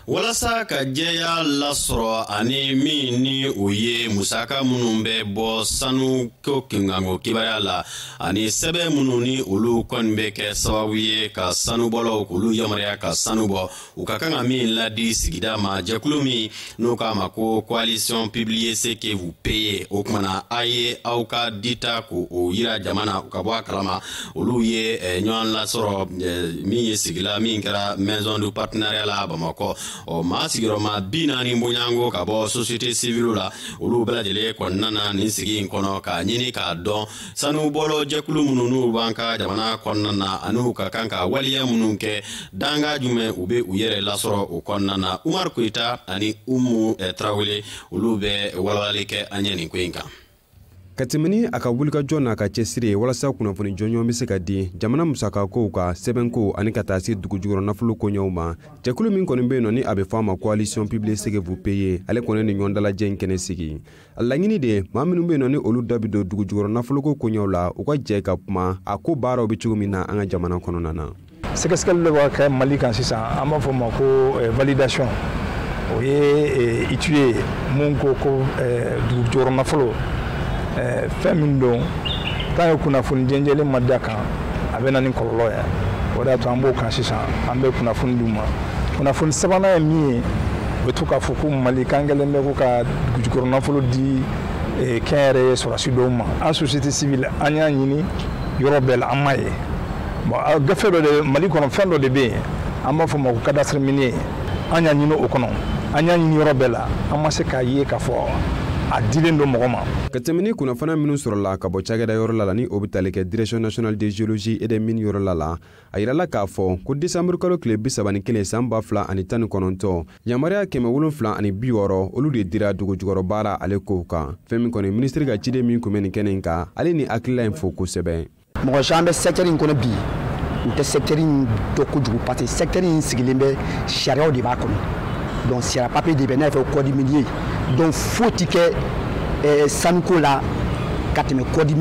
walasa ka jɛya lasɔrɔ ani min ni o ye musaka minnu bɛ bɔ sanu ko kunkanko kibaruya la ani sɛbɛn minnu ni olu kɔni bɛ kɛ sababu ye ka sanubɔlaw k'olu yamaruya ka sanu bɔ u ka kan ka min ladi sigida ma jɛkulu min n'u k'a ma ko coalition publiez ce que vous payez o kumana a ye aw ka dita k'o yira jama na u ka bɔ a kalama olu ye eh, ɲɔgɔn lasɔrɔ eh, min ye sigila min kɛra maison du partenariat la bamakɔ ɔ maa sigiyɔrɔma bi naani bonyanko ka bɔ société civile la olu bɛɛ lajɛlen kɔnɔna na nin sigi in kɔnɔ k'a ɲini k'a dɔn sanubɔla jɛkulu minnu n'u b'an ka jamana kɔnɔna na an'u ka kan ka waleya minnu kɛ dankan jumɛn u bɛ u yɛrɛ lasɔrɔ o kɔnɔna na umaru koyita ani umu eh, tarawele olu bɛ walawalali kɛ an ɲɛ nin ko in kan ka tɛmɛ ni a ka wulikajɔ n'a ka cɛsiri ye walasa kunnafoni jɔnjɔn bɛ se ka di jamana musakakow ka sɛbɛnko ani ka taa se dugujukɔrɔ nafolo koɲɛw ma jɛkulu min kɔni bɛ yen nɔ ni a bɛ fɔ a ma coalition publiez ce que vous payez ale kɔni ni ɲɔgɔndalajɛ in kɛnɛ sigi a laɲini de ye maa minnu bɛ yen nɔ ni olu da bɛ don dugujukɔrɔ nafoloko koɲɛw la u ka jɛ ka kuma a ko baaraw bɛ cogo min na an ka jamana kɔnɔna na sɛgɛsɛgɛli dɔ b'a kɛ mali kan sisan an b'a fɔ ma ko eh, validation o ye eh, itie mun ko ko eh, dugujukɔrɔ nafolo fɛn min don tant que kunnafoni jɛnjɛlen ma d'a kan a bɛ na ni kɔlɔlɔ ye o de y'a to an b'o kan sisan an bɛ kunnafoni d'u ma kunnafoni sabanan ye min ye u bɛ to k'a fɔ ko mali kan gɛlɛn bɛ ko ka dugujukɔrɔ nafolo di kɛnyɛrɛye sɔrɔdasi dɔw ma an société civile an y'a ɲini yɔrɔ bɛɛ la an m'a ye bon gafe dɔ de mali kɔnɔ fɛn dɔ de bɛ yen an b'a fɔ ma ko cadastre minier an y'a ɲini o kɔnɔ an y'a ɲini yɔrɔ bɛɛ la an ma se k'a ye k'a fɔ a dilen don mɔgɔ ma ka tɛmɛ ni kunnafoni minnu sɔrɔla ka bɔ cakɛda yɔrɔ la la ni o bɛ tali kɛ direction nationale de géologie et des mines yɔrɔ la la a yirala k'a fɔ ko desanburu kalo tile bi saba ni kelen san ba fila ani tan ni kɔnɔntɔn yamaruya kɛmɛ wolonfila ani bi wɔɔrɔ olu de dira dugujukɔrɔ baara ale kow kan fɛn min kɔni minisiri ka ciden min kun bɛ nin kɛnɛ in kan ale ni hakilila in fo kosɛbɛ mɔgɔ caman bɛ secteur in kɔnɔ bi u tɛ secteur in dɔn kojugu parce que secteur in sigilen bɛ sariyaw de b'a kɔnɔ donc sariya papier de bɛ n'a fɔ code minier donc foyi tɛ kɛ sanuko la ka tɛmɛ code mi